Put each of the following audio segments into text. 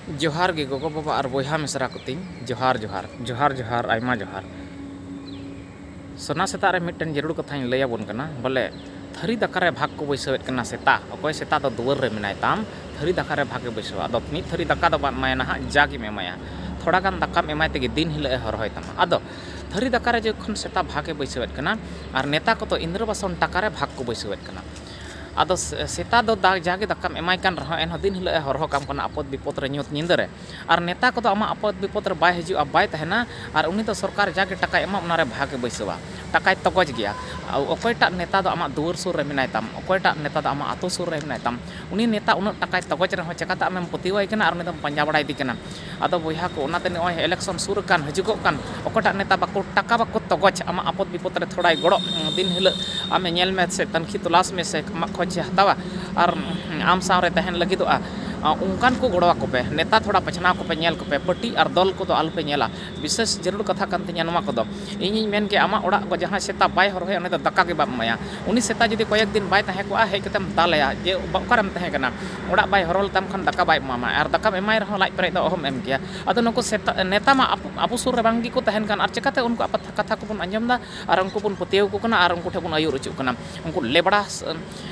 ᱡᱚᱦᱟᱨ ᱜᱮ ᱜᱚᱜᱚ ᱵᱟᱵᱟ ᱟᱨ ᱵᱚᱭᱦᱟ ᱢᱤᱥᱨᱟ ᱠᱚ ᱛᱤᱧ ᱡᱚᱦᱟᱨ ᱡᱚᱦᱟᱨ᱾ ᱡᱚᱦᱟᱨ ᱡᱚᱦᱟᱨ ᱟᱭᱢᱟ ᱡᱚᱦᱟᱨ᱾ ᱥᱚᱱᱟ ᱥᱮᱛᱟᱜ ᱨᱮ ᱢᱤᱫᱴᱮᱱ ᱡᱟᱹᱨᱩᱲ ᱠᱟᱛᱷᱟᱧ ᱞᱟᱹᱭ ᱟᱵᱚᱱ ᱠᱟᱱᱟ ᱵᱚᱞᱮ ᱛᱷᱟᱹᱨᱤ ᱫᱟᱠᱟ ᱨᱮ ᱵᱷᱟᱜᱽ ᱠᱚ ᱵᱟᱹᱭᱥᱟᱹᱣ ᱮᱫ ᱠᱟᱱᱟ ᱥᱮᱛᱟ ᱚᱠᱚᱭ ᱥᱮᱛᱟ ᱫᱚ ᱫᱩᱣᱟᱹᱨ ᱨᱮ ᱢᱮᱱᱟᱭ ᱛᱟᱢ ᱛᱷᱟᱹᱨᱤ ᱫᱟᱠᱟ ᱨᱮ ᱵᱷᱟᱜᱽ ᱮ ᱵᱟᱹᱭᱥᱟᱹᱣᱟ ᱟᱫᱚ ᱢᱤᱫ ᱛᱷᱟᱹᱨᱤ ᱫᱟᱠᱟ ᱫᱚ ᱵᱟᱢ ᱮᱢᱟᱭᱟ ᱱᱟᱦᱟᱜ ᱡᱟ ᱜᱮᱢ ᱮᱢᱟᱭᱟ ᱛᱷᱚᱲᱟ ᱜᱟᱱ ᱫᱟᱠᱟᱢ ᱮᱢᱟᱭ ᱛᱮᱜᱮ ᱫᱤᱱ ᱦᱤᱞᱟᱹᱜ ᱮ ᱦᱚᱨᱦᱚᱭ ᱛᱟᱢᱟ ᱟᱫᱚ ᱛᱷᱟᱹᱨᱤ ᱫᱟᱠᱟ ᱨᱮ ᱡᱚᱠᱷᱚᱱ ᱥᱮᱛᱟ ᱵᱷᱟᱜᱽ ᱮ ᱵᱟᱹᱭᱥᱟᱹᱣ ᱮᱫ ᱠᱟᱱᱟ ᱟᱨ ᱱᱮᱛᱟ ᱠᱚᱫᱚ ᱤᱱᱫᱨᱚᱵᱟᱥᱚᱱ ᱴᱟᱠᱟ ᱨᱮ ᱵᱷᱟᱜᱽ ᱠᱚ ᱵᱟᱹᱭᱥᱟᱹᱣ ᱮᱫ ᱠᱟᱱᱟ᱾ ᱟᱫᱚ ᱥᱮᱛᱟ ᱫᱚ ᱡᱟᱜᱮ ᱫᱟᱠᱟᱢ ᱮᱢᱟᱭ ᱠᱟᱱ ᱨᱮᱦᱚᱸ ᱮᱱᱦᱚᱸ ᱫᱤᱱ ᱦᱤᱞᱚᱜ ᱮ ᱦᱚᱨᱦᱚ ᱠᱟᱢ ᱠᱟᱱᱟ ᱟᱯᱚᱫ ᱵᱤᱯᱚᱫ ᱨᱮ ᱧᱩᱛ ᱧᱤᱫᱟᱹ ᱨᱮ᱾ ᱟᱨ ᱱᱮᱛᱟ ᱠᱚᱫᱚ ᱟᱢᱟᱜ ᱟᱯᱚᱫ ᱵᱤᱯᱚᱫ ᱨᱮ ᱵᱟᱭ ᱦᱤᱡᱩᱜᱼᱟ ᱵᱟᱭ ᱛᱟᱦᱮᱸᱱᱟ ᱟᱨ ᱩᱱᱤ ᱫᱚ ᱥᱚᱨᱠᱟᱨ ᱡᱟᱜᱮ ᱴᱟᱠᱟᱭ ᱮᱢᱟᱢ ᱚᱱᱟ ᱨᱮ ᱵᱷᱟᱜᱽ ᱮ ᱵᱟᱹᱭᱥᱟᱹᱣᱟ᱾ ᱴᱟᱠᱟᱭ ᱛᱚᱜᱚᱡᱽ ᱜᱮᱭᱟ᱾ ᱚᱠᱚᱭ ᱴᱟᱜ ᱱᱮᱛᱟ ᱫᱚ ᱟᱢᱟᱜ ᱫᱩᱣᱟᱹᱨ ᱥᱩᱨ ᱨᱮ ᱢᱮᱱᱟᱭ ᱛᱟᱢ, ᱚᱠᱚᱭ ᱴᱟᱜ ᱱᱮᱛᱟ ᱫᱚ ᱟᱢᱟᱜ ᱟᱹᱛᱩ ᱥᱩᱨ ᱨᱮ ᱢᱮᱱᱟᱭ ᱛᱟᱢ, ᱩᱱᱤ ᱱᱮᱛᱟ ᱩᱱᱟᱹᱜ ᱴᱟᱠᱟᱭ ᱛᱚᱜᱚᱡᱽ ᱨᱮᱦᱚᱸ ᱪᱮᱠᱟᱛᱮ ᱟᱢᱮᱢ ᱯᱟᱹᱛᱭᱟᱹᱣᱟᱭ ᱠᱟᱱᱟ ᱟᱨ ᱩᱱᱤ ᱫᱚᱢ ᱯᱟᱸᱡᱟ ᱵᱟᱲᱟᱭᱮᱫᱮ ᱠᱟᱱᱟ᱾ ᱟᱫᱚ ᱵᱚᱭᱦᱟ ᱠᱚ ᱚᱱᱟᱛᱮ ᱱᱚᱜ ᱚᱭ ᱮᱞᱮᱠᱥᱚᱱ ᱥᱩᱨ ᱟᱠᱟᱱ ᱦᱟᱹᱡᱩᱜᱚᱜ ᱠᱟᱱ ᱚᱠᱚᱭᱴᱟᱜ ᱱᱮᱛᱟ ᱵᱟᱠᱚ ᱴᱟᱠᱟ ᱵᱟᱠᱚ ᱛᱚᱜᱚᱡ ᱟᱢᱟᱜ ᱟᱯᱚᱫ ᱵᱤᱯᱚᱫ ᱨᱮ ᱛᱷᱚᱲᱟᱭ ᱜᱚᱲᱚ ᱫᱤᱱ ᱦᱤᱞᱟᱹᱜ ᱟᱢᱮ ᱧᱮᱞ ᱢᱮ ᱥᱮ ᱛᱟᱹᱱᱠᱷᱤ ᱛᱚᱞᱟᱥ ᱢᱮ ᱥᱮ ᱟᱢᱟᱜ ᱠᱷᱚᱡᱮ ᱦᱟᱛᱟᱣᱟ ᱟᱨ ᱟᱢ ᱥᱟᱶ ᱨᱮ ᱛᱟᱦᱮᱱ ᱞᱟᱹᱜᱤᱫᱚᱜᱼᱟ ᱚᱱᱠᱟᱱ ᱠᱚ ᱜᱚᱲᱚ ᱟᱠᱚ ᱯᱮ ᱱᱮᱛᱟ ᱛᱷᱚᱲᱟ ᱵᱟᱪᱷᱱᱟᱣ ᱠᱚᱯᱮ ᱧᱮᱞ ᱠᱚᱯᱮ ᱯᱟᱹᱴᱤ ᱟᱨ ᱫᱚᱞ ᱠᱚᱫᱚ ᱟᱞᱚ ᱯᱮ ᱧᱮᱞᱟ ᱵᱤᱥᱮᱥ ᱡᱟᱹᱨᱩᱲ ᱠᱟᱛᱷᱟ ᱠᱟᱱ ᱛᱤᱧᱟᱹ ᱱᱚᱣᱟ ᱠᱚᱫᱚ ᱤᱧᱤᱧ ᱢᱮᱱ ᱜᱮᱭᱟ ᱟᱢᱟᱜ ᱚᱲᱟᱜ ᱠᱚ ᱡᱟᱦᱟᱸᱭ ᱥᱮᱛᱟ ᱵᱟᱭ ᱦᱚᱨᱦᱚᱭᱟ ᱩᱱᱤ ᱫᱚ ᱫᱟᱠᱟ ᱜᱮ ᱵᱟᱢ ᱮᱢᱟᱭᱟ ᱩᱱᱤ ᱥᱮᱛᱟ ᱡᱩᱫᱤ ᱠᱚᱭᱮᱠ ᱫᱤᱱ ᱵᱟᱭ ᱛᱟᱦᱮᱸ ᱠᱚᱜᱼᱟ ᱦᱮᱡ ᱠᱟᱛᱮᱢ ᱫᱟᱞᱮᱭᱟ ᱡᱮ ᱚᱠᱟᱨᱮᱢ ᱛᱟᱦᱮᱸ ᱠᱟᱱᱟ ᱚᱲᱟᱜ ᱵᱟᱭ ᱦᱚᱨᱦᱚ ᱞᱮᱛᱟᱢ ᱠᱷᱟᱱ ᱫᱟᱠᱟ ᱵᱟᱭ ᱮᱢᱟᱢᱟ ᱟᱨ ᱫᱟᱠᱟᱢ ᱮᱢᱟᱭ ᱨᱮᱦᱚᱸ ᱞᱟᱡ ᱯᱮᱨᱮᱡ ᱫᱚ ᱚᱦᱚᱢ ᱮᱢ ᱠᱮᱭᱟ ᱟᱫᱚ ᱱᱩᱠᱩ ᱥᱮᱛᱟ ᱱᱮᱛᱟ ᱢᱟ ᱟᱵᱚ ᱥᱩᱨ ᱨᱮ ᱵᱟᱝ ᱜᱮᱠᱚ ᱛᱟᱦᱮᱱ ᱠᱟᱱ ᱟᱨ ᱪᱤᱠᱟᱹᱛᱮ ᱩᱱᱠᱩᱣᱟᱜ ᱠᱟᱛᱷᱟ ᱠᱚᱵᱚᱱ ᱟᱸᱡᱚᱢ ᱮᱫᱟ ᱟᱨ ᱩᱱᱠᱩ ᱵᱚᱱ ᱯᱟᱹᱛᱭᱟᱹᱣ ᱟᱠᱚ ᱠᱟᱱᱟ ᱟᱨ ᱩᱱᱠᱩ ᱴᱷᱮᱱ ᱵᱚᱱ ᱟᱹᱭᱩᱨ ᱚᱪᱚᱜ ᱠᱟᱱᱟ ᱩᱱᱠᱩ ᱞᱮᱵᱽᱲᱟ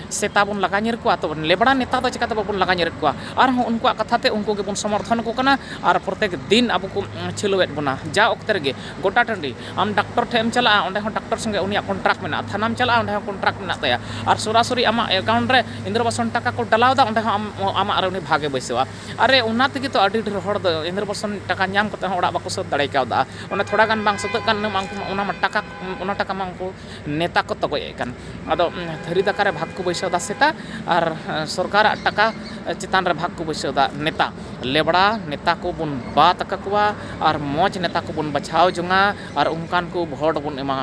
ᱥᱮᱛᱟ ᱵᱚᱱ ᱞᱟᱜᱟ ᱧᱤᱨ ᱠᱚᱣᱟ ᱛᱚ ᱞᱮᱵᱽᱲᱟ ᱱᱮᱛᱟ ᱫᱚ ᱪᱤᱠᱟᱹᱛᱮ ᱵᱟᱵᱚᱱ ᱞᱟᱜᱟ ᱧᱤᱨᱮᱫ ᱠᱚᱣᱟ ᱟᱨᱦᱚᱸ ᱩᱱᱠᱩᱣᱟᱜ ᱠᱟᱛᱷᱟ ᱛᱮ ᱩᱱᱠᱩ ᱜᱮᱵᱚᱱ ᱥᱚᱢᱚᱨᱛᱷᱚᱱ ᱟᱠᱚ ᱠᱟᱱᱟ ᱟᱨ ᱯᱨᱚᱛᱮᱠ ᱫᱤᱱ ᱟᱵᱚ ᱠᱚ ᱪᱷᱤᱞᱟᱹᱣᱮᱫ ᱵᱚᱱᱟ ᱡᱟ ᱚᱠᱛᱮ ᱨᱮᱜᱮ ᱜᱚᱴᱟ ᱴᱟᱺᱰᱤ ᱟᱢ ᱰᱟᱠᱴᱚᱨ ᱴᱷᱮᱱ ᱮᱢ ᱪᱟᱞᱟᱜᱼᱟ ᱚᱸᱰᱮ ᱦᱚᱸ ᱰᱟᱠᱴᱚᱨ ᱥᱚᱸᱜᱮ ᱩᱱᱤᱭᱟᱜ ᱠᱚᱱᱴᱨᱟᱠᱴ ᱢᱮᱱᱟᱜᱼᱟ ᱛᱷᱟᱱᱟᱢ ᱪᱟᱞᱟᱜᱼᱟ ᱚᱸᱰᱮ ᱦᱚᱸ ᱠᱚᱱᱴᱨᱟᱠᱴ ᱢᱮᱱᱟᱜ ᱛᱟᱭᱟ ᱟᱨ ᱥᱚᱨᱟᱥᱚᱨᱤ ᱟᱢᱟᱜ ᱮᱠᱟᱣᱩᱱᱴ ᱨᱮ ᱤᱱᱫᱨᱚ ᱟᱵᱟᱥ ᱠᱷᱚᱱ ᱴᱟᱠᱟ ᱠᱚ ᱰᱟᱞᱟᱣᱫᱟ ᱚᱸᱰᱮ ᱦᱚᱸ ᱟᱢ ᱟᱢᱟᱜ ᱨᱮ ᱩᱱᱤ ᱵᱷᱟᱜᱽ ᱮ ᱵᱟᱹᱭᱥᱟᱹᱣᱟ ᱟᱨᱮ ᱚᱱᱟ ᱛᱮᱜᱮ ᱛᱚ ᱟᱹᱰᱤ ᱰᱷᱮᱨ ᱦᱚᱲ ᱫᱚ ᱤᱱᱫᱨᱚ ᱟᱵᱟᱥ ᱠᱷᱚᱱ ᱴᱟᱠᱟ ᱧᱟᱢ ᱠᱟᱛᱮᱫ ᱦᱚᱸ ᱚᱲᱟᱜ ᱵᱟᱠᱚ ᱥᱟᱹᱛ ᱫᱟᱲᱮ ᱠᱟᱣᱫᱟ ᱚᱱᱟ ᱛᱷᱚᱲᱟ ᱜᱟᱱ ᱵᱟᱝ ᱥᱟᱹᱛᱟᱹᱜ ᱠᱟᱱ ᱤᱱᱟᱹ ᱢᱟ ᱩᱱᱠᱩ ᱢᱟ ᱚᱱᱟ ᱢᱟ ᱴᱟᱠᱟ ᱚᱱᱟ ᱴᱟᱠᱟ ᱢᱟ ᱩᱱᱠᱩ ᱱᱮᱛᱟ ᱠᱚ ᱛᱚᱜᱚᱡ ᱮᱫ ᱠᱟᱱ ᱟᱫᱚ ᱛᱷᱟᱹᱨᱤ ᱫᱟᱠᱟ ᱨᱮ ᱵᱷᱟᱜᱽ ᱠᱚ ᱵᱟᱹᱭᱥᱟᱹᱣ ᱮᱫᱟ ᱥᱮᱛᱟ ᱟᱨ ᱥᱚᱨᱠᱟᱨ ᱟᱜ ᱴᱟᱠᱟ ᱪᱮᱛᱟᱱ ᱨᱮ ᱵᱷᱟᱜᱽ ᱠᱚ ᱵᱟᱹᱭᱥᱟᱹᱣ ᱮᱫᱟ ᱱᱮᱛᱟ ᱞᱮᱵᱽᱲᱟ ᱱᱮᱛᱟ ᱠᱚᱵᱚᱱ ᱵᱟᱫ ᱟᱠᱟᱫ ᱠᱚᱣᱟ ᱟᱨ ᱢᱚᱡᱽ ᱱᱮᱛᱟ ᱠᱚᱵᱚᱱ ᱵᱟᱪᱷᱟᱣ ᱡᱚᱝᱼᱟ ᱟᱨ ᱚᱱᱠᱟᱱ ᱠᱚ ᱵᱷᱳᱴ ᱵᱚᱱ ᱮᱢᱟ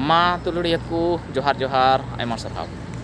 ᱢᱟ ᱫᱩᱞᱟᱹᱲᱤᱭᱟᱹ ᱠᱚ ᱡᱚᱦᱟᱨ ᱡᱚᱦᱟᱨ ᱟᱭᱢᱟ ᱥᱟᱨᱦᱟᱣ